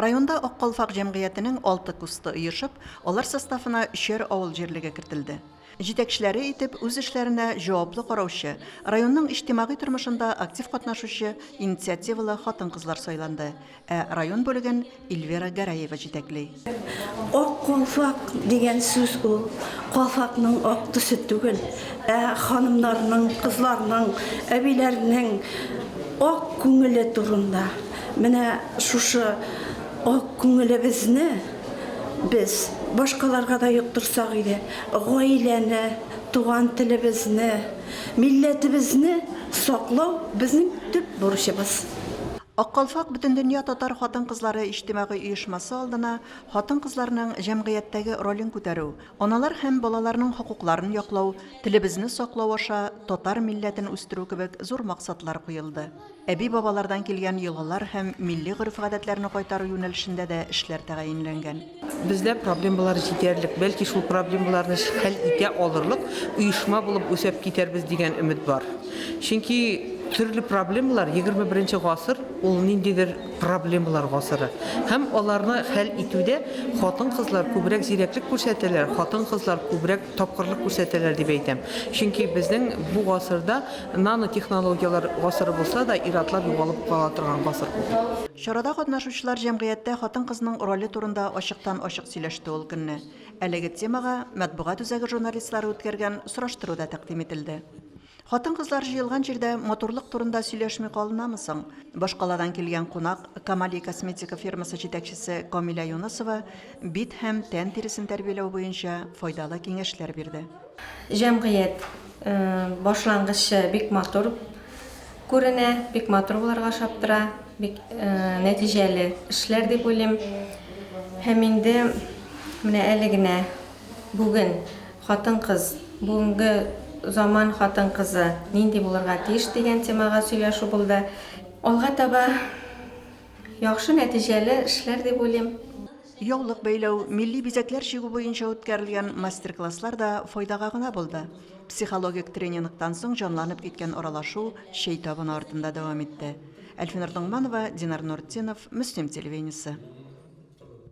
Районда Ак калфак җәмгыятенең алты кусты оешып, алар составына өчәр авыл җирлеге кертелде. Җитәкчеләре итеп үз эшләренә җаваплы караучы, районның иҗтимагый тормышында актив катнашучы инициативалы хатын-кызлар сайланды, ә район бүлеген Ильвира Гәрәева җитәкли. Ак калфак дигән сүз ул калфакның ак төсе түгел, ә ханымнарның, кызларның, әбиләрнең ак күңеле турында. Менә шушы ак күңелебезне без башкаларга да йоктырсак иде, гаиләне, туган телебезне, милләтебезне саклау безнең төп бурычыбыз. Ак калфак Бөтендөнья татар хатын-кызлары иҗтимагый оешмасы алдына хатын-кызларның җәмгыятьтәге ролен күтәрү, аналар һәм балаларның хокукларын яклау, телебезне саклау аша татар милләтен үстерү кебек зур максатлар куелды. Әби-бабалардан килгән йолалар һәм милли гореф-гадәтләрне кайтару юнәлешендә дә эшләр тәгаенләнгән. Бездә проблемалар җитәрлек, бәлки шул проблемаларны хәл итә алырлык оешма булып үсәп китәрбез дигән өмет бар. Чөнки төрле проблемалар, егерме беренче гасыр ул ниндидер проблемалар гасыры. Һәм аларны хәл итүдә хатын-кызлар күбрәк зирәклек күрсәтәләр, хатын-кызлар күбрәк тапкырлык күрсәтәләр дип әйтәм. Чөнки безнең бу гасырда нанотехнологияләр гасыры булса да, ир-атлар югалып кала торган гасыр бу. Чарада катнашучылар җәмгыятьтә хатын-кызның роле турында ачыктан-ачык сөйләште ул көнне. Әлеге темага матбугат үзәге журналистлары үткәргән сораштыру да тәкъдим ителде. Хатын-кызлар җыелган җирдә матурлык турында сөйләшми калынамы соң? Башкаладан килгән кунак, Камали косметика фирмасы җитәкчесе Камилә Юнысова бит һәм тән тиресен тәрбияләү буенча файдалы киңәшләр бирде. Җәмгыять башлангычы бик матур күренә, бик матур булырга ошап тора, бик нәтиҗәле эшләр дип уйлыйм. Һәм инде менә әле генә бүген хатын-кыз, бүгенге заман хатын-кызы нинди булырга тиеш дигән темага сөйләшү булды. Алга таба яхшы нәтиҗәле эшләр дип уйлыйм. Яулык бәйләү, милли бизәкләр чигү буенча үткәрелгән мастер-класслар да файдага гына булды. Психологик тренингтан соң җанланып киткән аралашу чәй табыны артында дәвам итте. Әлфинур Доңманова, Динар Нуртдинов, Мөслим телевидениесе.